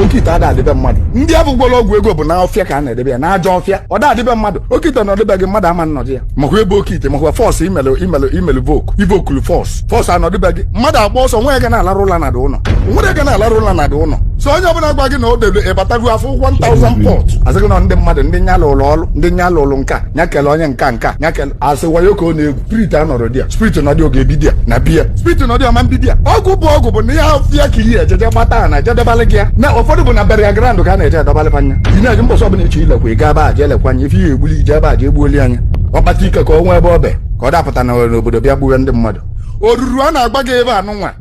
oke ite ada adị be mmadụ ndị afụ gwọrọ ọgwụ ego bụ na ọfịa ka a na-edebe ya n'ajọ ọfịa ọ da adị be mmadụ oke ite nọdụ be gị mmadụ ama nọdụ ya makwa ebe oke ite makwa force e melụ e melụ e melụ invoke invokulu force force a nọdụ be gị mmadụ agba ọsọ nwa ya ga na-alarụ ụla na dị ụlọ nwere ga na-alarụ ụla na dị ụlọ so onye ọbụla gwa gị na o debe ị batago afụ 1000 pot a sị gị na ndị mmadụ ndị nya lụrụ ọrụ ndị nya lụrụ nka nya kele onye nka nka nya kele asị wayo ka ọ na-egwu spirit anọrọ di ya spirit na dị oge ebi di ya na biya spirit na dị ọma mbibi ya ọgwụ bụ ọgwụ bụ n'ajọ ọfịa ka iyi ejeje gbata na-eje edebalị gị ya na ụfọdụ bụ na burial ground ka a na-eje edebalị fanya ị na-eji mbọsị ọbụla eche ilekwa ị ga-aba aja elekwanye ife ihe egbuli ije ebe aja egbuoli anya ọkpata ike ka ọ nwee ebe ọ be ka ọ dapụta na n'obodo bịa gbuwe ndị mmadụ oruru a na-agwa gị ebe anụnwa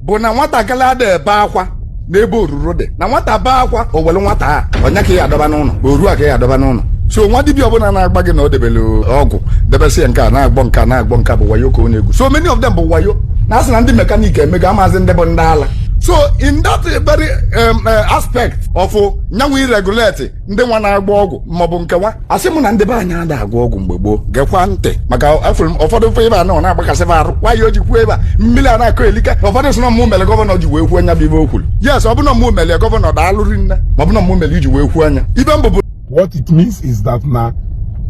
bụ na nwatakịrị ada ebe akwa n'ebe oruru dị na nwata bee akwa o were nwata a ọ nya ka ya adọba n'ụlọ oru a ka ya adọba n'ụlọ so nwa dibịa ọbụla na-agwa gị na o debere ọgwụ debesị ya nke a na-agwọ nke a na-agwọ nke a bụ wayo ka ọ na-egwu so many of them bụ wayo na a sị na ndị mekanik emego amaazị ndị bụ ndị ala so in that very um, uh, aspect of nyanwụ iregulate ndị nwa na-agwọ ọgwụ maọbụ nke nwa asị m na ndị be anyị ada agwọ ọgwụ mgbe gboo gekwa ntị maka afụrụ m ụfọdụ ife ebe a na ọ na-agbakasị m arụ nwaanyị o ji kwuo ebe a mmiri a na-akọ elika ụfọdụ sị na mụ mere gọvanọ ji wee kwuo nya bụ ife o kwuru yes ọ bụ na mụ mere gọvanọ daalụri nne ma ọ bụ na mụ mere iji wee kwuo nya ife mbụ bụ what it means is that na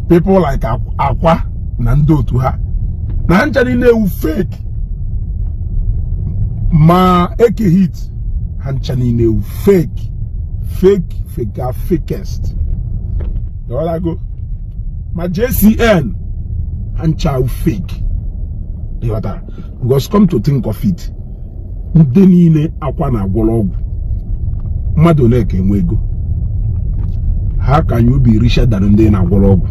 people like Ak- Akwa na ndị otu ha na ha ncha niile wụ fake ma Eke Hit ha ncha niile wụ fake fake fake fakest ịghọtago ma JCN ha ncha wụ fake ịghọtara because come to think of it ndị niile Akwa na-agwọrọ ọgwụ mmadụ ole ka enwe ego how can you be richer than ndị na-agwọrọ ọgwụ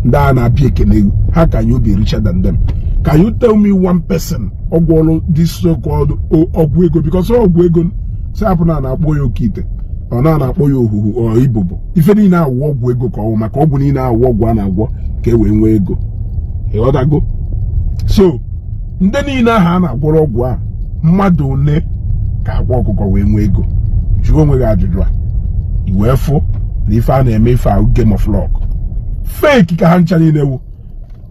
ndị a na-abịa ekele how can you be richer than them Can you tell me one person ọ gwọrọ this so called ọgwụ ego because ọgwụ ego sị hapụ na a na-akpọ ya oke ite ọ na a na-akpọ ya ohuhu ọ ibobo ife niile a wụ ọgwụ ego ka ọ wụ maka ọgwụ niile a wụ ọgwụ a na-agwọ ka e wee nwee ego ịghọtago so ndị niile ahụ a na-agwọrọ ọgwụ a mmadụ ole ka Akwa Ọkụkọ wee nwee ego jụọ onwe gị ajụjụ a i wee fụ na ife a na-eme ife a wụ game of luck fake ka ha ncha niile wụ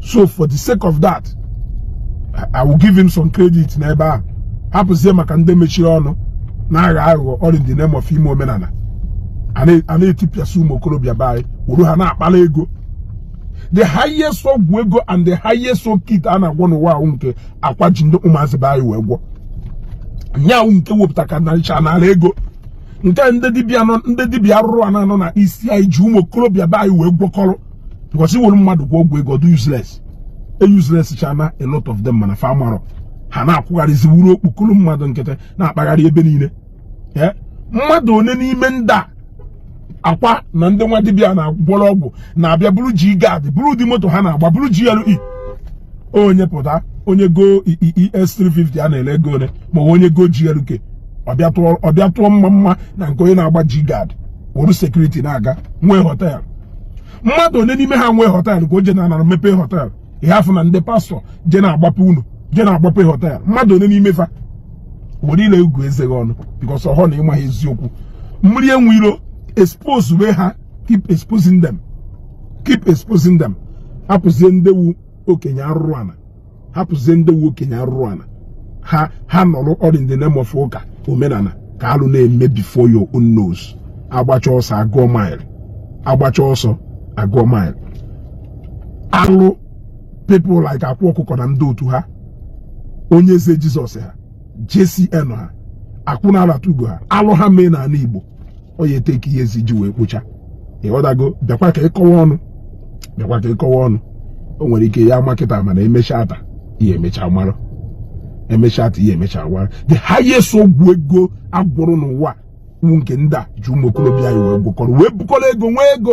so for the sake of that I will give him some credit n'ebe a hapụzie maka ndị mechiri ọnụ na-agha aghụghọ all in the name of ime omenala a na-etipịasị ụmụ okorobịa be anyị wuru ha na-akpala ego the highest ọgwụ ego and the highest oke ite a na-agwọ n'ụwa a wụ nke Akwa ji ndị ụmụazị be anyị wee gwọ nya wụ nke wepụta ka naricha n'ala ego nke ndị dibịa arụrụana nọ na isi anyị ji ụmụ okorobịa be anyị wee gwọkọrọ because i were mmadụ gwọ ọgwụ ego ọ dụ useless e useless chana a lot of them mana fa marọ ha na-akwụgharịzi wụrụ okpukuru mmadụ nkịtị na-akpagharị ebe niile eh? mmadụ one n'ime ndị a akwa na ndị nwa dibịa na-agwọrọ ọgwụ na-abịa buru G-Guard buru ụdị moto ha na-agba buru GLE onye pụta onye go ES 350 a na-ele ego one ma onye go GLK ọ bịa tụọ mma mma na nke onye na-agba G-Guard wuru security na-aga nwee hotel mmadụ one n'ime ha nwee hotel ka o je na anara mepee hotel ha afụ na ndị pastor je na-agbape unu je na-agbape hotel mmadụ one n'ime fa were ile gụọ eze gị ọnụ because ọ họ na ị maha eziokwu mmiri enwe iro expose we ha keep exposing them keep exposing them hapụzie nde wụ okenye arụrụ ana hapụzie nde wụ okenye arụrụ ana ha nọrọ all in the name of ụka omenala ka alụ na-eme before your own nose agbacha ọsọ agụọ mile agbacha ọsọ agụọ mile alụ people like akwa ọkụkọ na ndị otu ha onyeze jesus ha jcn ha akwụna alatugo ha alụ ha mee n'ala igbo ọ ya e take years e ji wee kpocha ị ghọtago bịakwa ka ị kọwa ọnụ bịakwa ka ị kọwa ọnụ o nwere ike ya ma kịta mana emecha ata ihe emecha mara emecha ata ihe emecha mara the highest ọgwụ ego a gwọrọ n'ụwa bụ nke ndị a ji ụmụ okorobịa anyị wee gwọkọrọ wee bukọrọ ego nwee ego